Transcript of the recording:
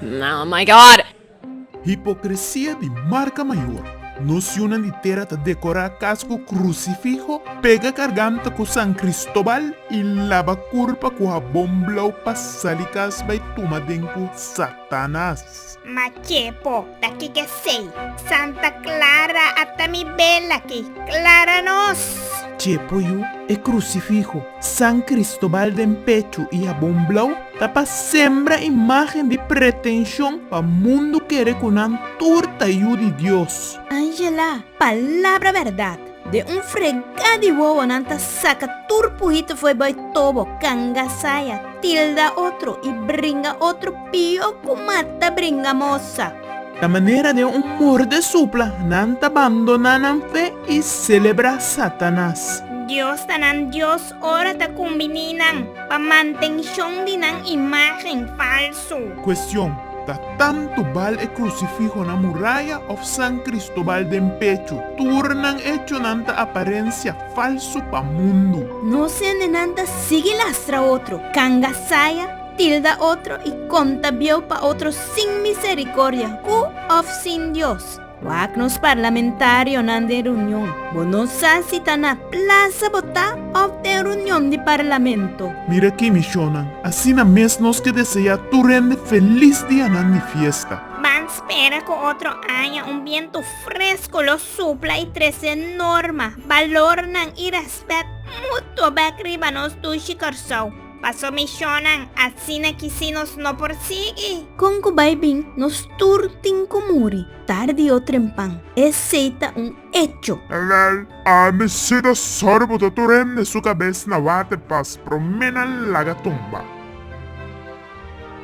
Oh my God! Hipokresia di marka mayor. Nos siunan di tera ta dekorá kas ku krusifiho, pega garganta ku San Kristobal i laba kurpa ku habon blau pa sali kas bai tuma den ku Satanas. Ma ke po ta kik esei? Santa Clara a ta mi bela aki, Clara nos! Ke po yu? E krusifiho San Cristobal den pechu i habon blou ta pa sembra imágen di pretenshon pa mundu kere ku nan tur ta yu di Dios. Angela, palabra bèrdat! Den un fregá di wowonan ta saka tur puhito fo'i bai tobo, kanga saya, tilda otro i bringa otro pió ku mata bringa mosa. Ta manera den un morde supla nan ta bandoná nan fe i selebrá Satanas. Dios ta nan Dios Ora ta kumbiní nan pa mantenshon di nan imágen falsu? Kuestion, Ta tantu bal e krusifiho na muraya òf San Kristobal den pechu? Tur nan echonan ta aparensia falsu pa mundu. No sende nan ta sigui lastra otro, kanga saya, tilda otro i konta bieu pa otro sin miserikordia ku òf sin Dios. Wak nos parlamentarionan den reunion. Bo no sa si ta na plasa bo ta òf den reunion di Parlamento. Mira ki mishonnan! Asina mes nos ke deseá tur hende felis dianan di fiesta. Ban spera ku otro aña un bientu fresku lo supla i trese norma, balornan i rèspèt mutuo bèk riba nos dushi Kòrsou. Paso misionnan asina kisi nos no por sigui. Kon ku bai bin nos tur tin ku muri tardi o trempan, esei ta un echo. Evel, ami sido sòru bo ta tur hende su kabes na water pas promé nan laga tumba.